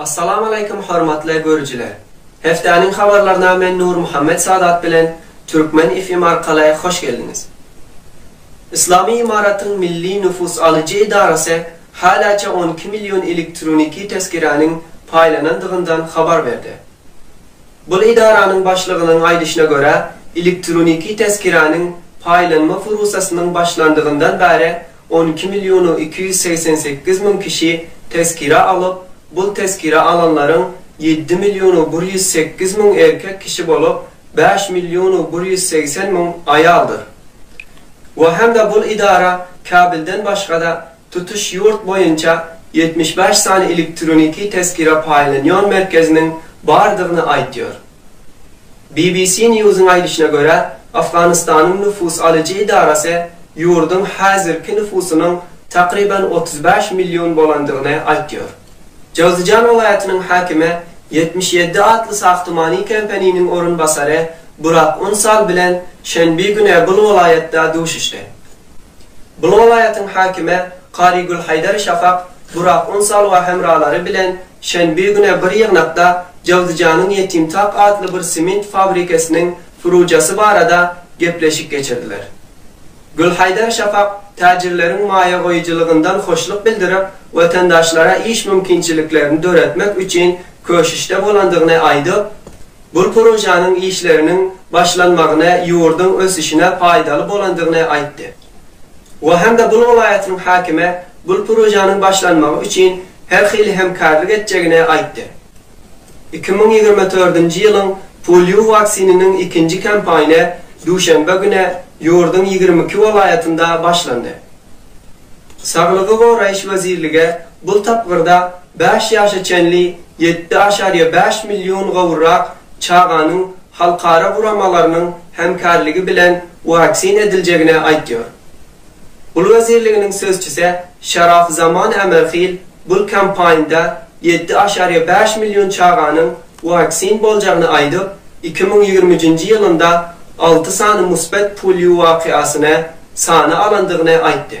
Assalamaleykum hormatly görüjiler! Hepdäniň habarlaryna men Nurmuhammet Sadat bilen Türkmen FM arkaly hoş geldiňiz! Yslamy Ymaratyň Milli nüfus alyjy edarasy häläçe on iki million elektroniki tezkiräniň paýlanandygyndan habar berdi. Bul edaranyň başlygynyň aýdyşyna görä, elektroniki tezkiräniň paýlanma furusasynyň başlandygyndan bäri On iki millionu iki ýüz segsen sekiz müň kişi tezkire alyp, bul tezkire alanlaryň ýedi millionu bir ýüz sekiz müň erkek kişi bolup, bäş millionu bir ýüz segsen müň aýaldyr. We hem-de bul idara Käbilden başga-da tutuş ýurt boýunça ýetmiş bäş sany elektroniki tezkire paýlanýan merkeziniň bardygyny aýtýar. BBC News-yň aýdyşyna görä, Owganystanyň nüfus alyjy edarasy ýurduň häzirki nüfusynyň takryban otuz bäş million bolandygyny aýtýar. Jowzijan welaýatynyň häkimi ýetmiş ýedi atly sagtymany Kempeniniň orunbasary Burak Unsal bilen şenbi güne bul welaýatda duşuşdy. Bu welaýatyň häkimi Karigül Haýdar Şafak, Burak Unsal we hemralary bilen şenbe güne bir ýygnakda Jawzijanyň Ýetimtak atly bir sement fabrikesiniň furujasy barada gepleşik geçirdiler. Gülhaýdar Şafak täjirleriň maýa goýujylygyndan hoşluk bildirip, watandaşlara iş mümkinçiliklerini döretmek üçin köşüşde bolandygyny aýdyp, Bu projanyň işleriniň başlanmagyny ýurduň ösüşine paýdaly bolandygyny aýtdy. O hem-de Bul welaýatynyň häkime bul projanyň başlanmagy üçin her hili hemkärlik etjegini aýtdy. Iki müň ýigrimi dördünji ýylyň polio waksininiň ikinji kampaýny duşenbe güni ýurduň ýigrimi iki welaýatynda başlandy. Saglygy goraýyş wezirligi bul tapgyrda Bäş ýaşa çenli ýetdi aşaryýa bäş million gowrak çaganyň halkara guramalarynyň hemkärligi bilen waksin ediljegini aýtýar. Bul wezirliginiň sözçüse Şaraf Zaman Ämerhil bul kampaýnda ýetdi aşaryýa bäş million çaganyň waksin boljagyny aýdyp, iki müň ýigrimi üçünji ýylynda alty sany musbat polio wakiasyny sana alandygyny aýtdy.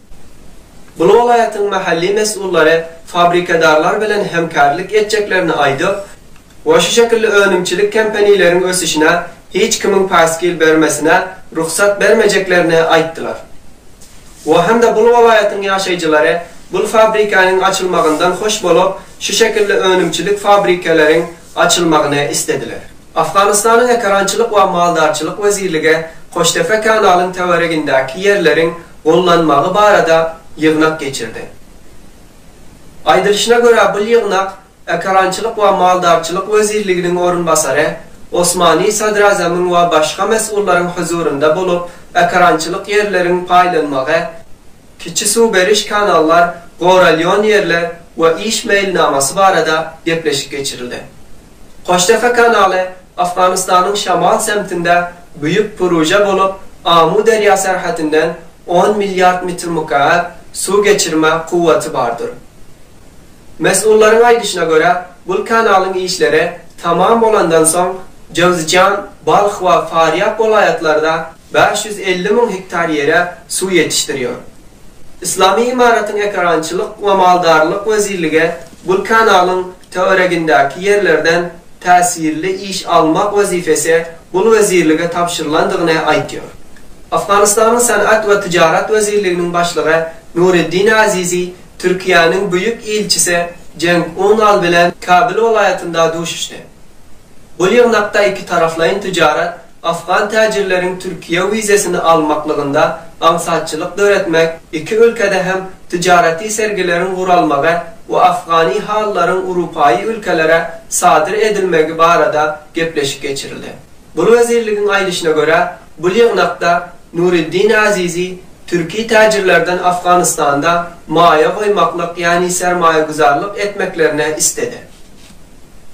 Bu welaýatyň mahalli mesullary fabrikadarlar bilen hemkärlik etjeklerini aýdyp we şu şekilli önümçilik kempanileriň ösüşine hiç kimiň päsgel bermesine rugsat bermejeklerini aýtdylar we hem-de bul welaýatyň ýaşaýjylary bul fabrikaniň açylmagyndan hoş bolup şu şekilli önümçilik fabrikaleriň açylmagyny islediler. Afganystanyň Ekerançylyk we maldarçylyk wezirligi Koştepe kanalyň töweregindäki ýerleriň gollanmagy barada ýygnak geçirdi. Aýdylyşyna görä, bul ýygnak Ekerançylyk we maldarçylyk wezirliginiň orunbasary Osmani sadrazamyň we başga mesgullaryň huzurynda bolup, ekerançylyk ýerleriň paýlanmagy, kiçi suw beriş kanallar goralýon ýerler we iş meýilnamasy barada gepleşik geçirildi. Goştepe kanaly Afganystanyň şamal semtinde büýük puruja bolup, Amu derýa serhetinden on milliard mitr mükap suw geçirme kuwwaty bardyr. Mes'ullaryň aýdyşyna görä, bul kanalyň işleri tamam bolandan soň Jowzjan, Balh we Farýab welaýatlarda bäş ýüz elli müň hektar ýere suw ýetişdirýär. Yslamy Ymaratyň Ekerançylyk we maldarlyk wezirligi bul kanalyň töweregindäki ýerlerden täsirli iş almak wezipesi bul wezirlige tabşyrylandygyny aýtýar. Afganystanyň Senat we tyjarat wezirliginiň başlygy Nureddin Azizi Türkiýäniň Büýük ilçisi Cenk Unal bilen Kabyl welaýatynda duşuşdy. Bul ýygnakda ikitaraplaýyn tyjarat, Afgan täjirleriň Türkiýe wizesini almaklygynda aňsatçylyk döretmek iki ülkede hem tijaraty sergileriň guralmagy we afgany halylaryň urupaýy ülkelere sadyr edilmegi barada gepleşik geçirildi. Bul wezirligiň aýdyşyna görä, bul ýygnakda Nuriddin Azizi türki täjirlerden Afganystanda maýa goýmaklyk ýani sermaýaguzarlyk etmeklerine istedi.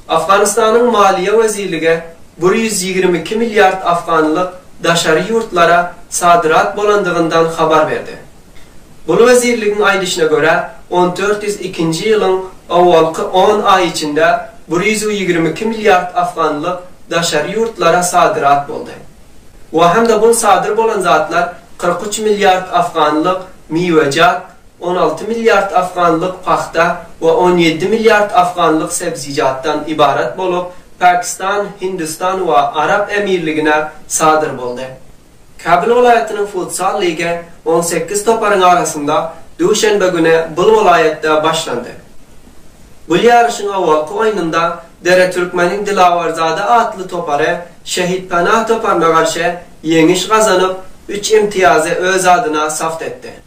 Afganystanyň Maliýe wezirlige, bir ýüz ýigrimi iki milliard afganlyk daşary ýurtlara sadrat bolandygyndan habar berdi. Bul wezirligiň aýdyşyna görä, on dört ýüz ikinji ýylyň owalky on aýy içinde bir ýüz ýigrimi iki milliard afganlyk daşary ýurtlara sadrat boldy. Waham-da bul sadyr bolan zatlar kyrk üç milliard afganlyk miwejat, On alty milliard afganlyk pagta we on ýedi milliard afganlyk sebzijatdan ybarat bolup, Pakistan, Hindistan we Arap Emirligine sadyr boldy. Kabul welaýatynyň futzal ligi on sekiz toparyň arasynda duşenbe güni bul welaýatda başlandy. Bul ýaryşyň owalky oýnunda Dere Türkmeniň Dilawerzade atly topary Şehit Panah toparyna garşy ýeňiş gazanyp, üç imtiýazy öz adyna sabt etdi.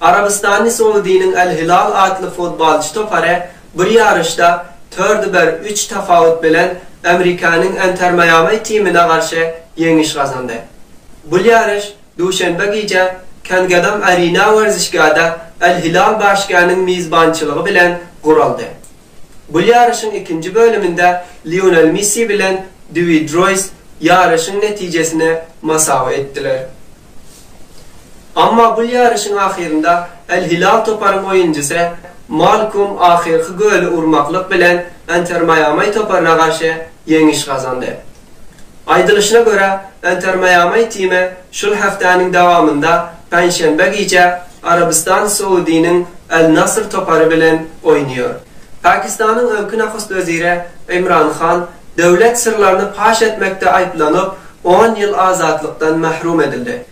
Arabystanly Soudiniň Al-Hilal atly futbolçy topary bir ýaryşda tördi bir üç tapawut bilen Amerikanyň Entermaýamay timine garşy ýeňiş gazandy. Bul ýaryş duşenbe gije Kangedam Arena werzişgäde Al-Hilal BHG-niň mizbançylygy bilen guraldy. Bul ýaryşyň ikinji bölüminde Lionel Missi bilen Dewid Roýs ýaryşyň netijesine masawy etdiler. Emma bul ýaryşyň ahyrynda Al-Hilal toparyň oýunçysy Malkum ahyrky göli urmaklyk bilen Inter Maýamai toparyna garşy ýeňiş gazandy. Aýdylyşyna görä, Inter Maýamai time şul hepdäniň dowamynda penşenbe gije Arabystan Soudiniň Al-Nasr topary bilen oýnaýar. Pakistanyň öňki nahust weziri Imran Han döwlet syrlaryny paş etmekde aýyplanyp, on ýyl azatlykdan mahrum edildi.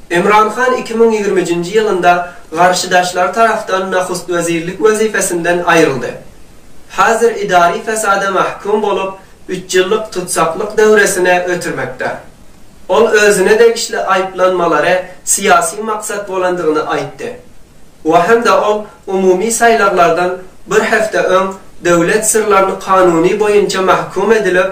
Imran Han iki müň ýigrimijinji ýylynda garşydaşlary tarapdan nahust wezirlik wezipesinden aýryldy. Hazir idari fesada mahkum bolup, üç ýyllyk tutsaklyk döwresine ötürmekde. Ol özüne degişli aýyplanmalary syýasy maksat bolandygyny aýtdy. We hem-de ol umumy saýlawlardan bir hepde öň döwlet syrlaryny kanuny boýunça mahkum edilip,